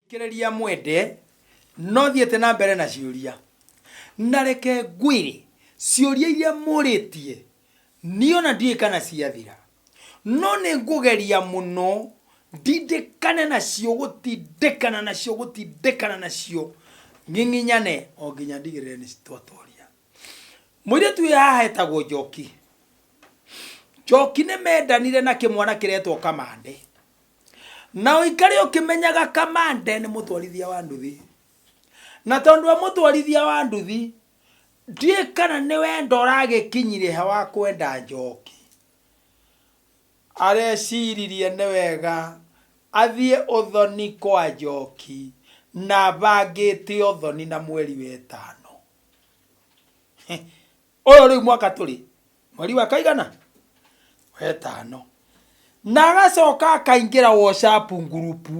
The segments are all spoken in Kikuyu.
Thikĩrĩria mwende, no thiĩte na mbere na ciũria. Na reke ngwĩre, ciũria iria mũrĩtie, niĩ o na ndiũĩ kana ciathira. No nĩ ngũgeria mũno ndindĩkane nacio gũtindĩkana nacio gũtindĩkana nacio ng'ing'inyane o nginya ndigĩrĩre nĩ twatoria. Mũirĩtu wĩ haha etagwo Njoki. Njoki nĩ mendanire na kĩmwana kĩretwo Kamande. na ũikare ũkĩmenyaga kamande nĩ mũtwarithia wa nduthi na tondũ wa mũtwarithia wa nduthi ndiĩ kana nĩ wenda ũragĩkinyire ha wa kwenda njoki areciririe nĩ wega athiĩ ũthoni kwa njoki na bangĩte ũthoni na mweri wetano ũyũ rĩu mwaka tũrĩ mweri wa kaigana wetano na agacoka akaingĩra whatsapp ngurupu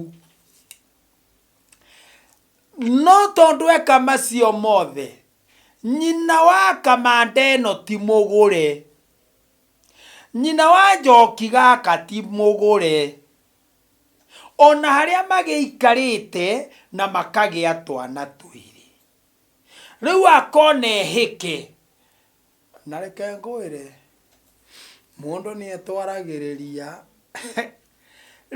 no tondũ eka macio mothe nyina wa kamanda ĩno ti mũgũre nyina wa njoki gaka ti mũgũre ona harĩa magĩikarĩte na makagĩa twana twĩrĩ rĩu akona ehĩke na reke ngwĩre mũndũ nĩ etwaragĩrĩria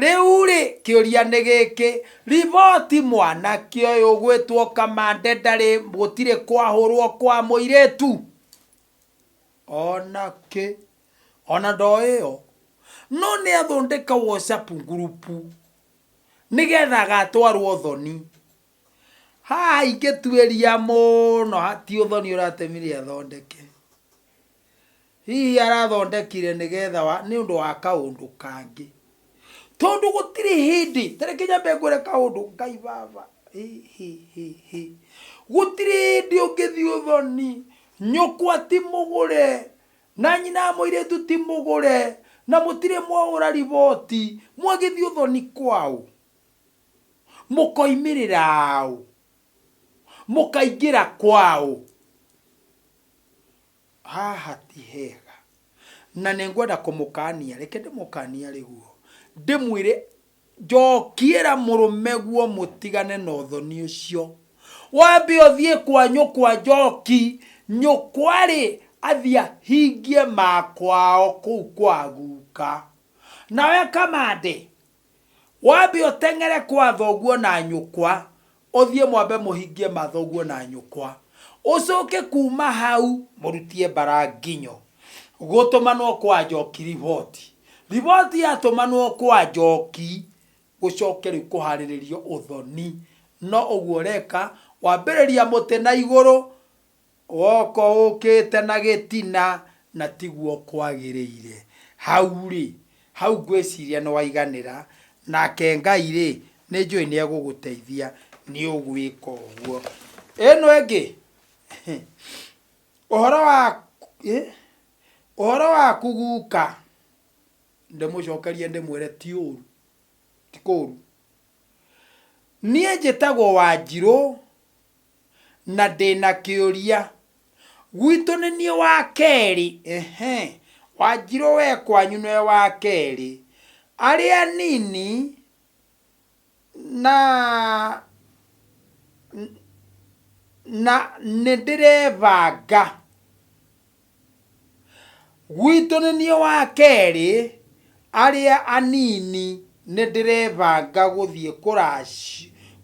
rĩu rĩ kĩũria nĩ gĩkĩ riboti mwanake ũyũ ũgwĩtwo kamande ndarĩ gũtirĩ kwahũrwo kwa mũirĩtu ona kĩ ona ndoĩo no nĩ athondeka whatsapp ngurubu nĩgetha agatwarwo thoni Haha ingĩtuĩria mũno ti ũthoni ũratemire athondeke. Hihi arathondekire nĩ getha nĩ ũndũ wa kaũndũ kangĩ. Tondũ gũtirĩ hĩndĩ, ta reke nyambe ngwĩre kaũndũ, Ngai baba, hĩ hĩ hĩ hĩ. Gũtirĩ hĩndĩ ũngĩthiĩ ũthoni, nyũkwa ti mũgũre, na nyina wa mũirĩtu ti mũgũre, na mũtirĩ mwaũra riboti, mwagĩthiĩ ũthoni kwaũ? Mũkoimĩrĩra ũ? Mũkaingĩra kwa ũ? Haha ti hega. Na nĩ ngwenda kũmũkaania, reke ndĩmũkaanie arĩ guo, ndĩmwĩre, Njokiĩra mũrũme guo mũtigane na ũthoni ũcio. Wambe ũthiĩ kwa nyũkwa Njoki, nyũkwa-rĩ, athiĩ ahingie ma kwao kũu kwa guka. Nawe Kamande, Wambe ũteng'ere kwa thoguo na nyũkwa, ũthiĩ mwambe mũhingie ma thoguo na nyũkwa. Ũcoke kuuma hau mũrutie mbara nginyo. Gũtũmanwo kwa Njoki riboti. Riboti yatũmanwo kwa Njoki, gũcoke rĩu kũharĩrĩrio ũthoni. No ũguo ũreka, wambĩrĩria mũtĩ na igũrũ, Woko ũkĩte na gĩtina na tiguo kwagĩrĩire. Hau-rĩ, hau ngwĩciria nĩwaiganĩra, nake Ngai-rĩ, nĩnjũĩ nĩegũgũteithia nĩũgwĩka ũguo. Ĩno ĩngĩ, ũhoro wa, ĩ, ũhoro waku guka, ndĩmũcokerie ndĩmwĩre ti ũru, ti kũru. Niĩ njĩtagwo Wanjirũ, na ndĩ na kĩũria. Gwitũ nĩ niĩ wa kerĩ, ehe, Wanjirũ we kwanyu nĩwe wa kerĩ. Arĩa anini na na nĩndĩrebanga. Gwitũ nĩ niĩ wa kerĩ, arĩa anini nĩ ndĩrebanga gũthiĩ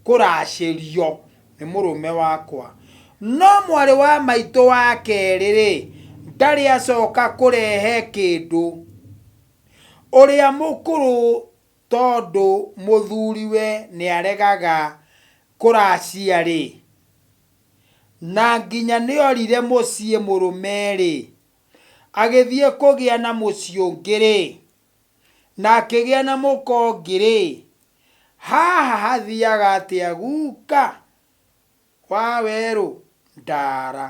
kũracĩrio nĩ mũrũme wakwa. No mwarĩ wa maitũ wa kerĩ-rĩ, ndarĩ acoka kũrehe kĩndũ. Ũrĩa mũkũrũ tondũ mũthuriwe nĩ aregaga kũracia-rĩ. Na nginya nĩorire mũciĩ mũrũme-rĩ, agĩthiĩ kũgĩa na mũciĩ ũngĩ-rĩ, na akĩgĩa na mũka ũngĩ-rĩ, haha hathiaga atĩa guka wa werũ ndara?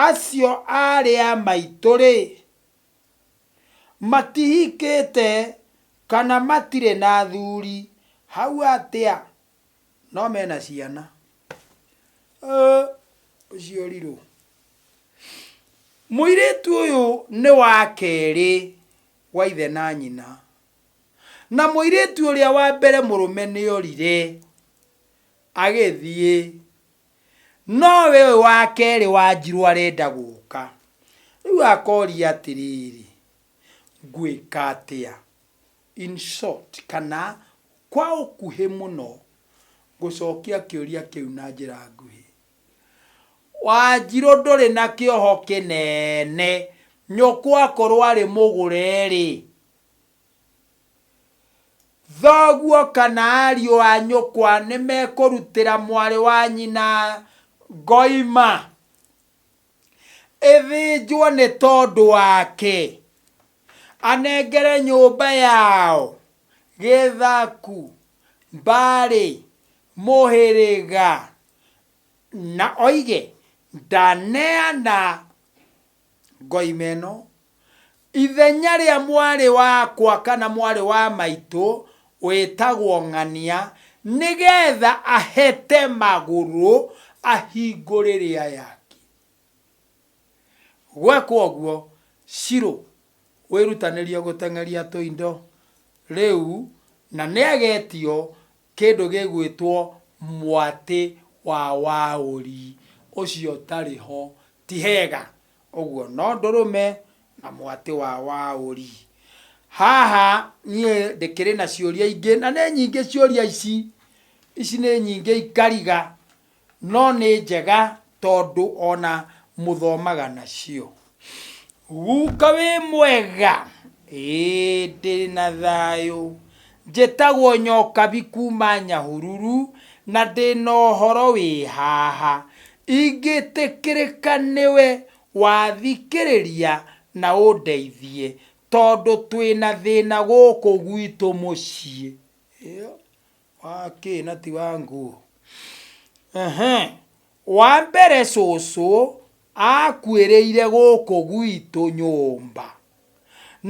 Acio aarĩ a maitũ-rĩ, matihikĩte kana matirĩ na athuri hau atĩa? no mena ciana Ũ, ũciorirwo mũirĩtu ũyũ nĩ wa kerĩ wa ithe na nyina na mũirĩtu ũrĩa wa mbere mũrũme nĩ orire agĩthiĩ nowe ũyũ wa kerĩ wa njirũ arenda gũka rĩu akoria atĩrĩrĩ ngwĩka atĩa In short, kana kwa ũkuhĩ mũno, ngũcokia kĩũria kĩu na njĩra nguhĩ. Wanjirũ ndũrĩ na kĩoho kĩnene. Nyũkwa akorwo arĩ mũgũre-rĩ, thoguo kana ariũ a nyũkwa nĩmekũrutĩra mwarĩ wa nyina ngoima? Ĩthĩnjwo nĩ tondũ wake. Anengere nyũmba yao gĩthaku, mbarĩ, mũhĩrĩga, na oige, Ndaneana ngoima ĩno Ithenya rĩa mwarĩ wakwa kana mwarĩ wa maitũ wĩtagwo ng'ania nĩgetha ahete magũrũ ahingũre rĩa yake. Gwekwo ũguo, Shiro wĩrutanĩrie gũteng'eria tũindo rĩu na nĩagetio kĩndũ gĩgwĩtwo mwatĩ wa waũri ũcio ũtarĩ ho ti hega. Ũguo no ndũrũme na mwatĩ wa waũri. Haha niĩ ndĩkĩrĩ na ciũria ingĩ na nĩ nyingĩ ciũria ici, ici nĩ nyingĩ ikariga no nĩ njega tondũ ona mũthomaga nacio. Guka wĩ mwega? Ĩĩ ndĩna thayũ. Njĩtagwo Nyokabi kuuma Nyahururu na ndĩ na ũhoro wĩ haha. Ingĩtĩkĩrĩka nĩwe wathikĩrĩria na ũndeithie tondũ twĩ na thĩna gũkũ gwitũ mũciĩ. Ĩĩ, wa kĩ na ti wa nguo? Ehe. Wa mbere cũcũ akuĩrĩire gũkũ gwitũ nyũmba,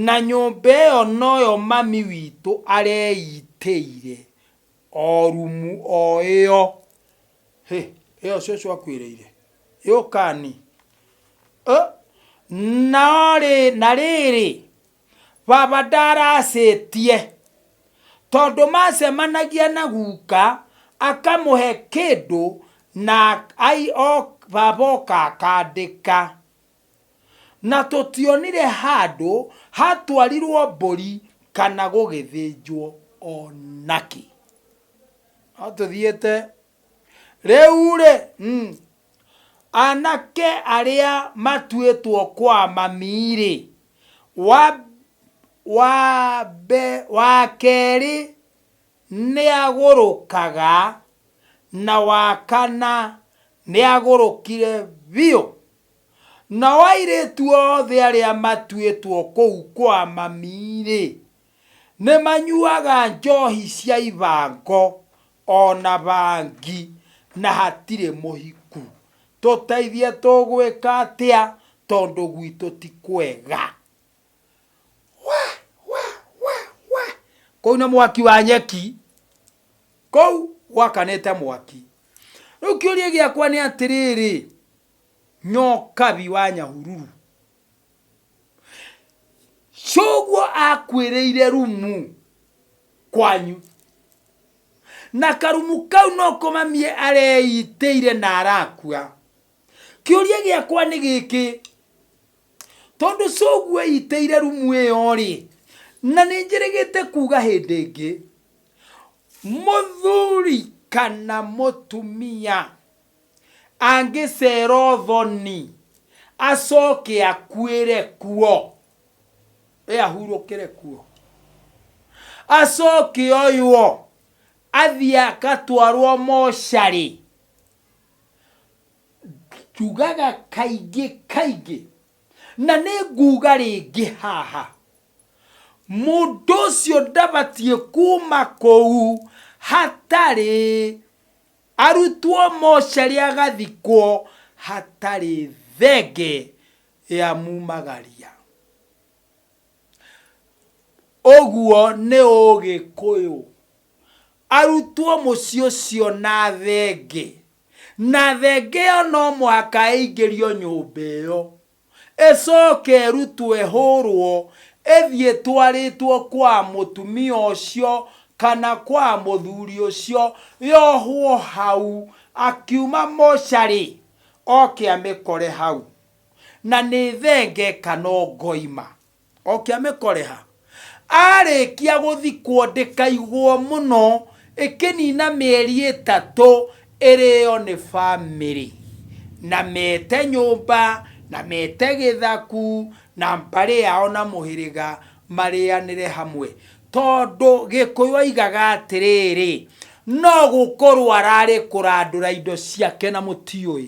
na nyũmba ĩyo noyo mami witũ areitĩire o rumu o ĩyo. Hĩ! Ĩyo cũcũ akuĩrĩire? Yũkani. Ũ! No rĩ, na rĩrĩ. Baba ndaracĩtie tondũ macemanagia na guka akamũhe kĩndũ na ai o baba oka akandĩka. Na tũtionire handũ hatwarirwo mbũri kana gũgĩthĩnjwo onakĩ. No tũthiĩte rĩu rĩ. Anake arĩa matuĩtwo kwa mami-rĩ, wa, wa kerĩ nĩagũrũkaga, na wa kana nĩagũrũkire biũ. Nao airĩtu othe arĩa matuĩtwo kũu kwa mami-rĩ. Nĩmanyuaga njohi cia ibango o na bangi na hatirĩ mũhiku. Tũteithie tũgwĩka atĩa tondũ gwitũ ti kwega? We! We! We! We! Kũu nĩ mwaki wa nyeki. Kũu gwakanĩte mwaki. Rĩu kĩũria gĩakwa nĩ atĩrĩrĩ, Nyokabi wa Nyahururu. coguo akwĩrĩire rumu kwanyu na karumu kau no kũmamie areitĩire na arakua kĩũria gĩakwa nĩ gĩkĩ tondũ coguo eitĩire rumu ĩyo rĩ na nĩ njĩrĩgĩte kuga hĩndĩ ĩngĩ mũthuri kana mũtumia Angĩceera ũthoni, acooke akuĩre kuo, ee, ahurũkĩre kuo, acooke oywo athiĩ agatwarwo mocarĩ, njugaga kaingĩ kaingĩ, na nĩ nguuga rĩngĩ haha, mũndũ ũcio ndabatiĩ kuuma kũu hatarĩ Arutwo mocarĩ agathikwo hatarĩ thenge ya mumagaria. Ũguo nĩ ũgĩkũyũ. Arutwo mũciĩ ũcio na thenge. Na thenge ĩyo no mũhaka ĩingĩrio nyũmba ĩyo. Ĩcooke ĩrutwo ĩhũũrwo ĩthiĩ ĩtwarĩtwo kwa mũtumia ũcio kana kwa mũthuri ũcio, yohwo hau, akiuma mocarĩ oke amĩkore hau, na nĩ thenge kana ngoima. Oke amĩkore ha? Arĩkia gũthikwo ndĩkaigwo mũno ĩkĩnina mĩeri ĩtatũ ĩrĩo nĩ famĩlĩ na mete nyũmba na mete gĩthaku na mbarĩ yao na mũhĩrĩga marĩanĩre hamwe tondũ gĩkũyũ oigaga atĩrĩrĩ no gũkorwo ararĩ kũrandũra indo ciake na mũtiũĩ.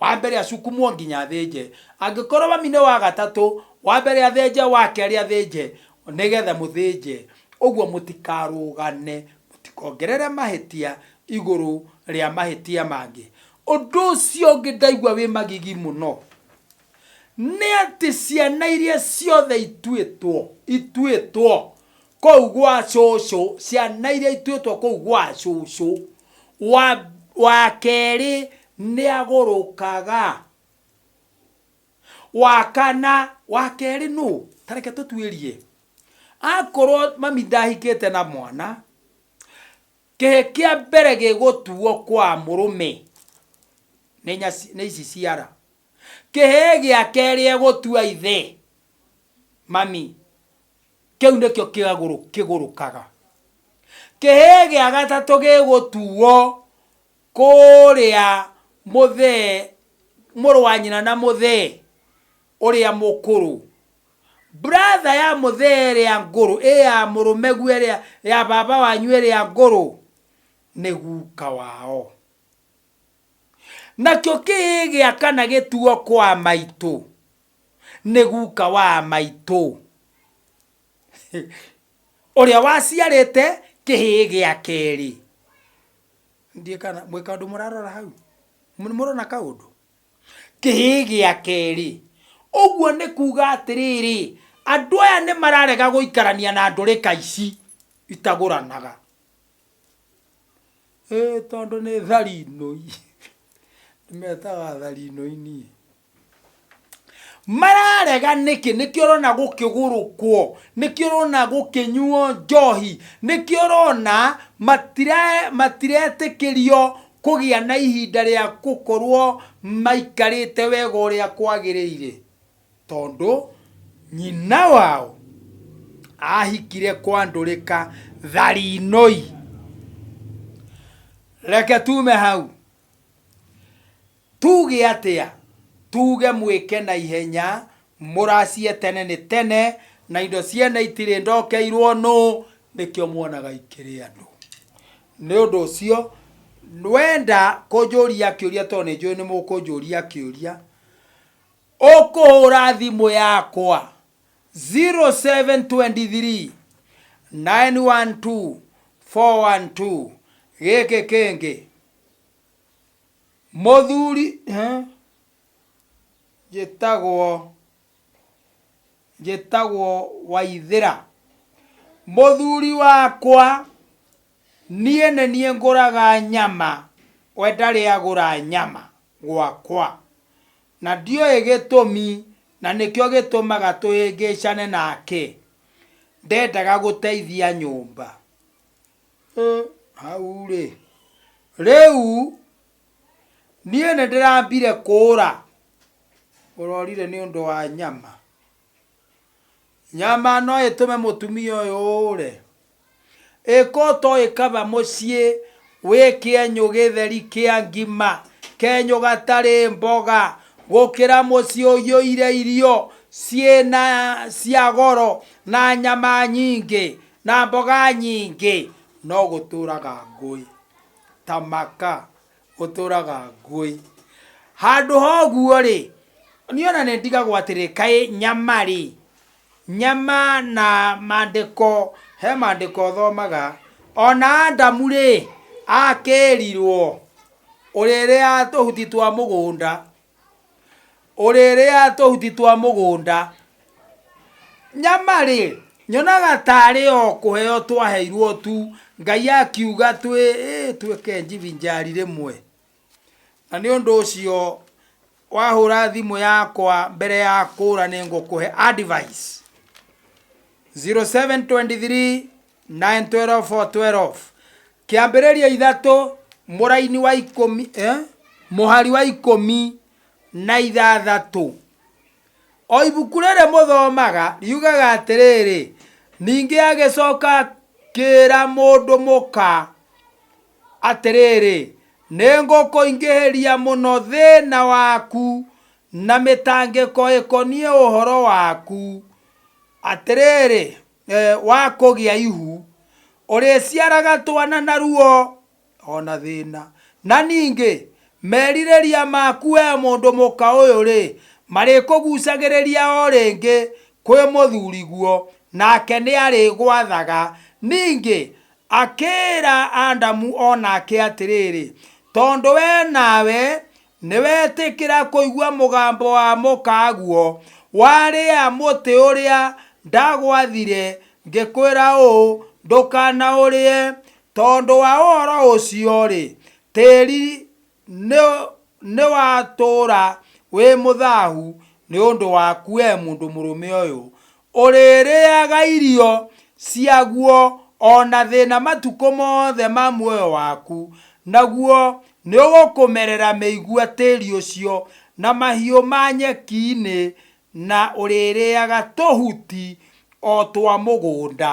Wa mbere acukumwo nginya athĩnje. Angĩkorwo mami nĩ wa gatatũ, wa mbere athĩnje, wa kerĩ athĩnje, nĩ getha mũthĩnje. Ũguo mũtikarũgane, mũtikongerere mahĩtia igũrũ rĩa mahĩtia mangĩ. Ũndũ ũcio ũngĩ ndaigua wĩ magigi mũno, nĩ atĩ ciana iria ciothe ituĩtwo, ituĩtwo kũu gwa cũcũ ciana iria ituĩtwo kũu gwa cũcũ wa, wa kerĩ nĩ agũrũkaga wa kana wa kerĩ nũ tareke tũtuĩrie akorwo mami ndahikĩte na mwana kĩhĩ kĩa mbere gĩgũtuo kwa mũrũme nĩ nyaci nĩ ici ciara kĩhĩ gĩa kerĩ egũtua ithe mami Kĩu nĩkĩo kĩagũrũ kĩgũrũkaga. Kĩhĩĩ gĩa gatatũ gĩgũtuo kũrĩa mũthee, mũrũ wa nyina na mũthee ũrĩa mũkũrũ. Brother ya mũthee ĩrĩa ngũrũ, ĩ ya mũrũmeguo ĩrĩa, ya baba wanyu ĩrĩa ngũrũ, nĩ guka wao. Nakĩo kĩhĩĩ gĩa kana gĩtuo kwa maitũ. nĩ guka wa maitũ, ũrĩa waciarĩte kĩhĩĩ gĩa kerĩ. Ndiũĩ kana mwĩ kaũndũ mũrarora hau? Nĩ mũrona kaũndũ? Kĩhĩĩ gĩa kerĩ. Ũguo nĩ kuuga atĩrĩrĩ, andũ aya nĩ mararega gũikarania na ndũrĩka ici itagũranaga. Ĩĩ tondũ nĩ tharinũi. Ndĩmetaga tharinũi niĩ. mararega nĩkĩ nĩkĩo ũrona gũkĩgũrũkwo nĩkĩo ũrona gũkĩnyuo njohi nĩkĩo ũrona matire matiretĩkĩrio kũgĩa na ihinda rĩa gũkorwo maikarĩte wega ũrĩa kwagĩrĩire tondũ nyina wao ahikire kwandũrĩka tharinoi reke tume hau Tuuge atĩa? Tuuge mwĩke na ihenya, mũracie tene nĩ tene, na indo ciene itirĩ ndokeirũo nũũ, nĩkĩo muonaga ikĩrĩanwo. Nĩ ũndũ ũcio, wenda kũnjũria kĩũria tondũ nĩ njũĩ nĩ mũkũnjũria kĩũria, ũkũhũra thimũ yakwa 0723 912 412, gĩkĩ kĩngĩ. Mũthuri njĩtagwo njĩtagwo Waithĩra. Mũthuri wakwa niĩ nĩ niĩ ngũraga nyama, we ndarĩ agũra nyama gwakwa. Na ndiũĩ gĩtũmi na nĩkĩo gĩtũmaga tũhĩngĩcane nake, ndendaga gũteithia nyũmba. Ĩ, hau-rĩ, rĩu niĩ nĩ ndĩrambire kũũra ũrorire nĩ ũndũ wa nyama nyama no ĩtũme mũtumia ũyũ ũũre ĩka ũtoĩ kaba mũciĩ wĩ kĩenyũ gĩtheri kĩa ngima kenyũ gatarĩ mboga gũkĩra mũciĩ ũiyũire irio ciĩna cia goro na nyama nyingĩ Na mboga nyingĩ. No gũtũũraga ngũĩ. Ta maka. Gũtũũraga ngũĩ. Handũ ha ũguo-rĩ, niĩ o na nĩndigagwo atĩrĩ, kaĩ nyama-rĩ, nyama na maandĩko, he maandĩko thomaga, o na Adamu-rĩ, akĩĩrirwo, ũrĩrĩa tũhuti twa mũgũnda, ũrĩrĩa tũhuti twa mũgũnda nyama rĩ nyonaga tarĩ o kũheo twaheirwo tu ngai akiuga twĩ ĩ, twĩke njivinjari rĩmwe na nĩ ũndũ ũcio wahũra thimũ yakwa mbere ya kũra nĩ ngũkũhe advice 0723 9, 12, 4, 12. kĩambĩrĩria ithatũ mũraini wa ikũmi eh? mũhari wa ikũmi na ithathatũ o ibuku rĩrĩ mũthomaga riugaga atĩrĩrĩ ningĩ agĩcoka kĩra mũndũ mũka atĩrĩrĩ nĩ ngũkũingĩhĩria mũno thĩna waku na mĩtangĩko ĩkoniĩ ũhoro waku atĩrĩrĩ Wa kũgĩa ihu. Ũrĩciaraga twana na ruo o na thĩna. Na ningĩ, merirĩria maku wee mũndũ mũka ũyũ-rĩ, marĩkũgucagĩrĩria o rĩngĩ kwĩ mũthuriguo, nake nĩarĩgwathaga. Ningĩ akĩĩra Adamu o nake atĩrĩrĩ, Tondũ wee nawe Nĩwetĩkĩra kũigua mũgambo wa mũkaguo, warĩa mũtĩ ũrĩa ndagwathire, ngĩkwĩra ũũ, 'Ndũkanaũrĩe. Tondũ wa ũhoro ũcio-rĩ, tĩri nĩwatũũra wĩ mũthahu nĩ ũndũ waku, wee mũndũ mũrũme ũyũ. Ũrĩrĩaga irio ciaguo o na thĩna matukũ mothe ma muoyo waku, naguo nĩũgũkũmerera mĩigua tĩri ũcio, na mahiũ ma nyeki-inĩ, na ũrĩrĩaga tũhuti o twa mũgũnda.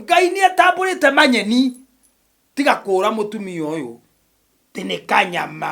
Ngai nĩatambũrĩte manyeni, tiga kũũra mũtumia ũyũ, atĩ nĩ kanyama.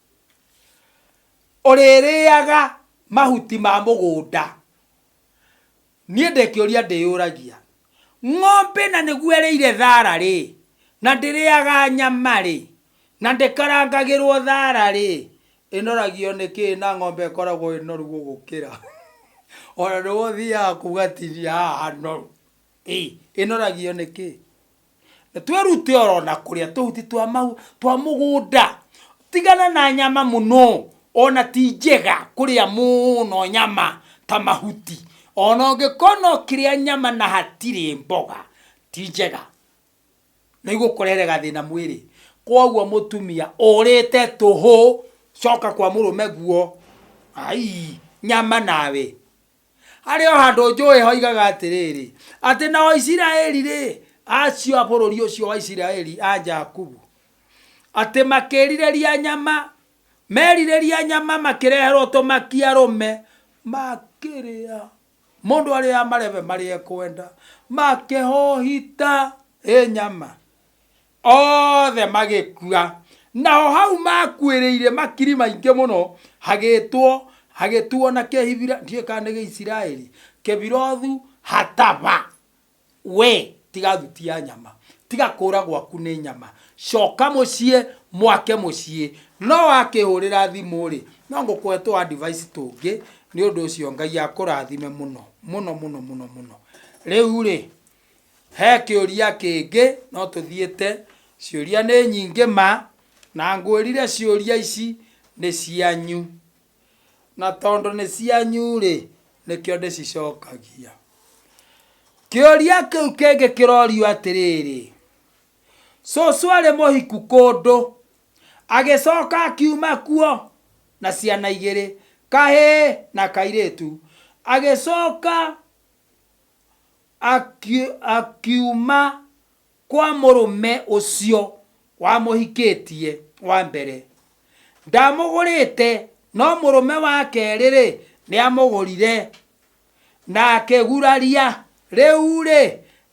Ũrĩrĩaga mahuti ma mũgũnda. Niĩ ndĩ kĩũria ndĩyũragia, Ng'ombe na nĩguo ĩrĩire thaara-rĩ, na ndĩrĩaga nyama-rĩ, na ndĩkarangagĩrwo thaara-rĩ, ĩnoragio nĩ kĩĩ na ng'ombe ĩkoragwo ĩ noru gũgũkĩra? O na nĩwe ũthiaga kuuga atinia haha hanoru. Ĩnoragio nĩ kĩĩ? Twĩrute oro na kũrĩa tũhuti twa mau twa mũgũnda. Tigana na nyama mũno, ona ti njega kũrĩa mũno nyama ta mahuti. Ona ũngĩkorwo no ũkĩrĩa nyama na hatirĩ mboga, ti njega. Nĩ igũkũrehere gathĩna mwĩrĩ. Kwoguo mũtumia ũrĩte tũhũ, coka kwa mũrũme guo. Aii, nyama nawe. Harĩ o handũ njũĩ hoigaga atĩrĩrĩ, atĩ na o Isiraeli-rĩ, acio a bũrũri ũcio wa Isiraeli a Jakubu, atĩ makĩrirĩria nyama, merirĩria nyama makĩreherwo tũmaki arũme, makĩrĩa, mũndũ arĩa amarebe marĩa ekwenda, makĩhohita ĩ nyama. Othe magĩkua. Naho hau maakuĩrĩire makiri maingĩ mũno, hagĩĩtwo, hagĩtuo na Kĩhibira, ndiũĩ kana nĩ Gĩisiraeli, Kebirothu Hatava. Wee tiga thuti ya nyama, tiga kũũra gwaku nĩ nyama, coka mũciĩ, mwake mũciĩ. No wakĩhũrĩra thimũ-rĩ, no ngũkũhe tũ advice tũngĩ, nĩ ũndũ ũcio Ngai akũrathime mũno, mũno mũno mũno mũno. Rĩu-rĩ, He kĩũria kĩngĩ no tũthiĩte? Ciũria nĩ nyingĩ ma, na ngwĩrire ciũria ici nĩ cianyu. Na tondũ nĩ cianyu rĩ, nĩkĩo ndĩcicokagia. Kĩũria kĩu kĩngĩ kĩrorio atĩrĩrĩ, cũcũ arĩ mũhiku kũndũ, agĩcoka akiuma kuo na ciana igĩrĩ, kahĩĩ na kairĩtu. Agĩcoka Akiuma kwa mũrũme ũcio wamũhikĩtie wa mbere. Ndamũgũrĩte, no mũrũme wa kerĩ-rĩ, nĩamũgũrire, na akĩguraria. Rĩu-rĩ,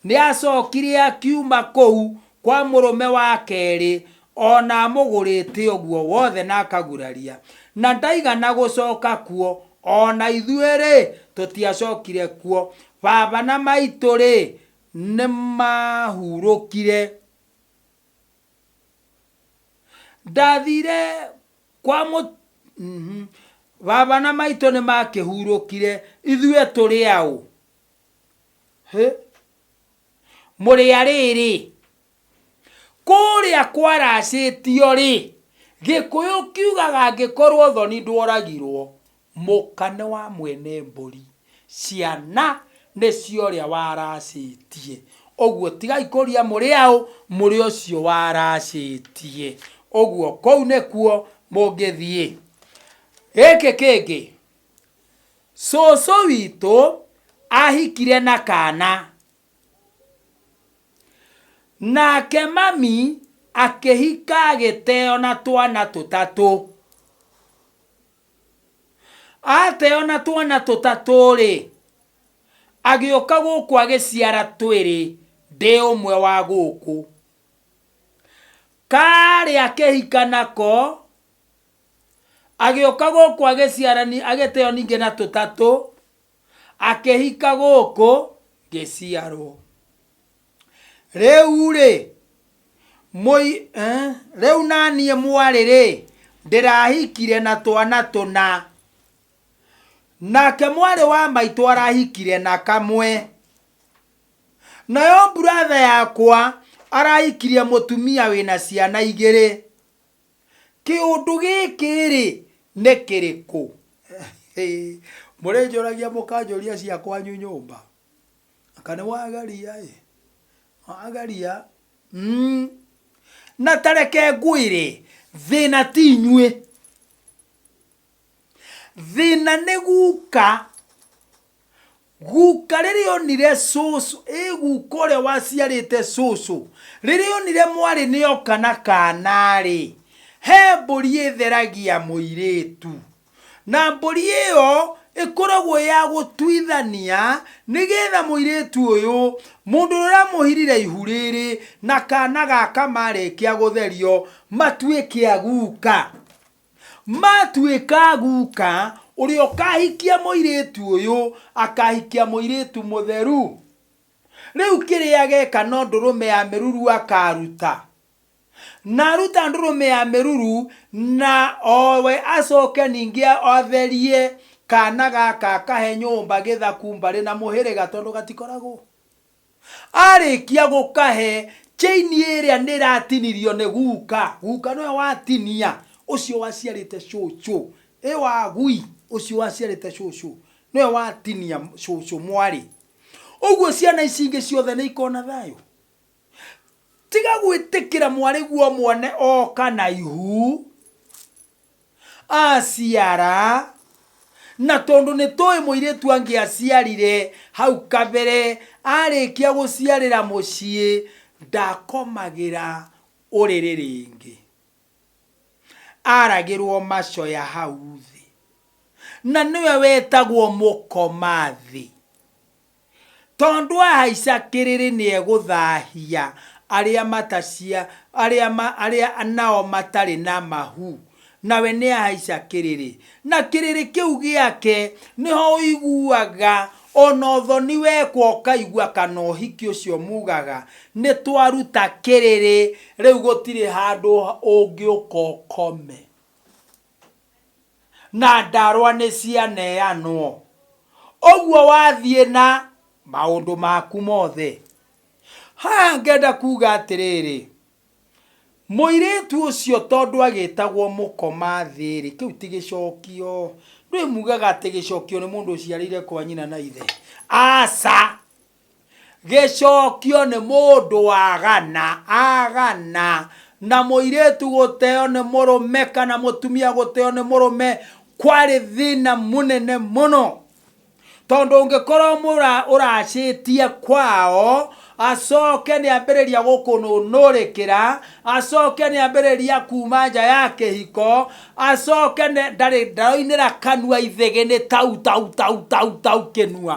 nĩacokire akiuma kũu kwa mũrũme wa kerĩ, O na amũgũrĩte ũguo wothe na akaguraria, na ndaigana gũcoka kuo, o na ithuĩ-rĩ, tũtiacokire kuo. Baba na maitũ-rĩ, nĩmahurũkire. Ndathiire kwa mũ, baba na maitũ nĩmakĩhurũkire, ithuĩ tũrĩ aũ? Hĩ! Mũrĩ a rĩrĩ? Kũrĩa kwaracĩtio-rĩ, Gĩkũyũ kiugaga angĩkorwo thoni ndworagirwo, mũka nĩ wa mwene mbũri, ciana nĩ cia ũrĩa waracĩtie. Ũguo tigai kũria mũrĩ aũ, mũrĩ ũcio waracĩtie. Ũguo kũu nĩkuo mũngĩthiĩ. Gĩkĩ kĩngĩ, Cũcũ witũ ahikire na kana. Nake mami akĩhika agĩteo na twana tũtatũ. Ateo na twana tũtatũ-rĩ, agĩũka gũkũ agĩciara twĩrĩ ndĩ ũmwe wa gũkũ. Karĩa akĩhika nako, agĩũka gũkũ agĩciara agĩteo ningĩ na tũtatũ, akĩhika gũkũ ngĩciarwo rĩu rĩ mũi eh, rĩu naniĩ mwarĩ rĩ ndĩrahikire na twana tũna nake mwarĩ wa maitũ arahikire na kamwe nayo mburatha yakwa arahikirie mũtumia wĩna ciana igĩrĩ Kĩũndũ gĩkĩ-rĩ, nĩ kĩrĩkũ? Mũrĩnjũragia mũkanjũria cia kwanyu nyũmba? Anga nĩwageria-ĩ, wageria mmh. Na ta reke ngwĩre, thĩna ti inyuĩ. thĩna nĩ guka guka rĩrĩa onire cũcũ ĩ guka ũrĩa waciarĩte cũcũ rĩrĩa onire mwarĩ nĩ oka na kanarĩ he mbũri ĩtheragia mũirĩtu na mbũri ĩyo ĩkoragwo ya gũtuithania nĩgetha mũirĩtu ũyũ mũndũ ũrĩa ũramũhirire ihu rĩrĩ na kana gaka marĩkia gũtherio matuĩke a guka Maatuĩka guka, ũrĩa ũkahikia mũirĩtu ũyũ akahikia mũirĩtu mũtheru. Rĩu kĩrĩa ageka no ndũrũme ya mĩruru akaruta. Na aruta ndũrũme ya mĩruru na owe acoke ningĩ atherie kana gaka akahe nyũmba gĩthaku mbarĩ na mũhĩrĩga tondũ gatikoragwo. Arĩkia gũkahe, chain ĩrĩa nĩ ĩratinirio nĩ guka, guka nĩwe watinia, ũcio waciarĩte cũcũ, ĩ wagui, ũcio waciarĩte cũcũ, nĩwe watinia cũcũ mwarĩ. Ũguo ciana ici ingĩ ciothe nĩ ikona thayũ? Tiga gwĩtĩkĩra mwarĩguo mone oka na ihu. Aaciara, na tondũ nĩ tũĩ mũirĩtu angĩaciarire hau kabere arĩkia gũciarĩra mũciĩ ndakomagĩra ũrĩrĩ rĩngĩ. Aragĩrwo macoya hau thĩ. Na nĩwe wetagwo mũkomathi. Tondũ ahaica kĩrĩrĩ nĩegũthaahia arĩa matacia, arĩa ma, arĩa nao matarĩ na mahu, nawe nĩahaica kĩrĩrĩ. Na kĩrĩrĩ kĩu gĩake nĩho ũiguaga o na ũthoni wekwo ũkaigua kana ũhiki ũcio muugaga nĩtwaruta kĩrĩrĩ, rĩu gũtirĩ handũ ũngĩũka ũkome. na ndarwa nĩ cianeanwo. Ũguo wathiĩ na maũndũ maku mothe. Haha ngenda kuuga atĩrĩrĩ, mũirĩtu ũcio tondũ agĩtagwo mũkoma thĩ-rĩ, kĩu ti gĩcokio. Ndũĩ mugaga atĩ gĩcokio nĩ mũndũ ũciarĩire kwa nyina na ithe? Aca! Gĩcokio nĩ mũndũ wagana, agana, na mũirĩtu gũteo nĩ mũrũme kana mũtumia gũteo nĩ mũrũme kwarĩ thĩna mũnene mũno tondũ ũngĩkorwo mũra ũracĩtie kwao acoke nĩ ambĩrĩria gũkũnũnũrĩkĩra acoke nĩ ambĩrĩria kuma nja ya kĩhiko acoke nĩ- ndarĩ ndaroinĩra kanua ithĩgĩ nĩ tau tau tau tau tau kĩnua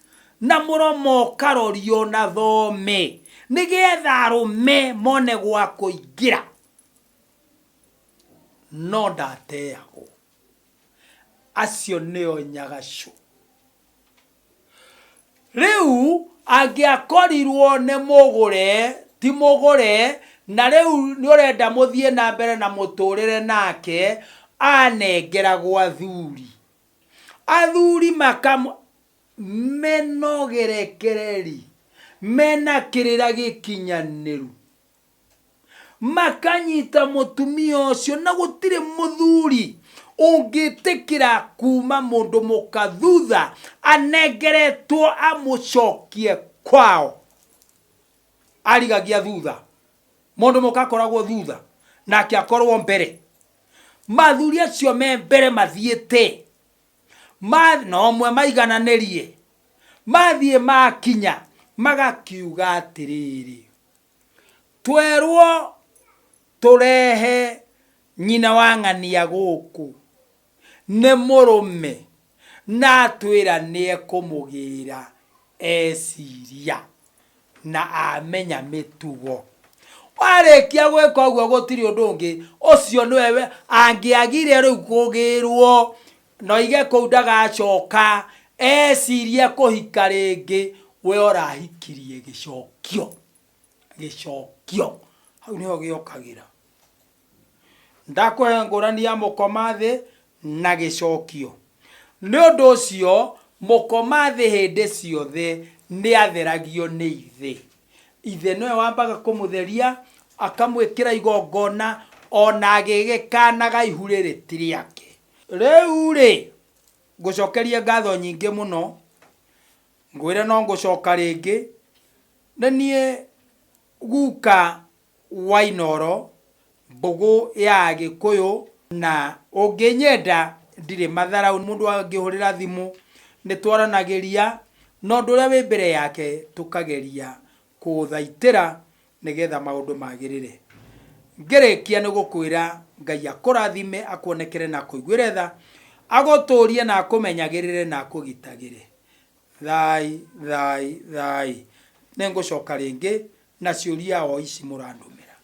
Na mũromo ũkarorio na thome. Nĩgetha arũme mone gwa kũingĩra. No ndateagwo. Acio nĩo nyagacũ. Rĩu angĩakorirwo nĩ mũgũre, ti mũgũre, na rĩu nĩ ũrenda mũthiĩ na mbere na mũtũrĩre nake, anengeragwo athuri. Athuri makamwa menogerekereri mena kĩrĩra gĩkinyanĩru makanyita mũtumia ũcio na gũtirĩ mũthuri ũngĩtĩkĩra kuma mũndũ mũka thutha anengeretwo amũcokie kwao arigagia thutha mũndũ mũka akoragwo thutha nake akorwo mbere mathuri acio me mbere mathiĩte ma na ũmwe maigananĩrie mathiĩ makinya magakiuga atĩrĩrĩ twerwo tũrehe nyina wa ng'ania gũkũ nĩ mũrũme Na atwĩra nĩekũmũgĩĩra eciria na amenya mĩtugo. Warĩkia gwĩka ũguo gũtirĩ ũndũ ũngĩ, ũcio nĩwe we, angĩagire rĩu kũgĩĩrwo na oige kũu ndagacoka ecirie kũhika rĩngĩ, we ũrahikirie gĩcokio. Gĩcokio. Hau nĩho gĩokagĩra. Ndakũhe ngũrani ya mũkoma thĩ na gĩcokio. Nĩ ũndũ ũcio mũkoma thĩ hĩndĩ ciothe nĩatheragio nĩ Ithe. Ithe nĩwe wambaga kũmũtheria, akamwĩkĩra igongona, o na agĩgĩkaanaga ihu rĩrĩ ti rĩake. Rĩu-rĩ, ngũcokerie ngatho nyingĩ mũno, ngwĩre no ngũcoka rĩngĩ, nĩ niĩ guka wa Inooro, Mbũgũ ya Agĩkũyũ na Ũngĩnyenda ndirĩ matharaũ mũndũ angĩhũrĩra thimũ nĩtwaranagĩria na ũndũ ũrĩa wĩ mbere yake tũkageria kũũthaitĩra nĩgetha maũndũ magĩrĩre. Ngĩrĩkia nĩ gũkwĩra Ngai akũrathime, akuonekere na akũiguĩre tha, agũtũũrie na akũmenyagĩrĩre na akũgitagĩre. Thaai, thaai, thaai. Nĩngũcoka rĩngĩ na ciũria o ici mũrandũmĩra.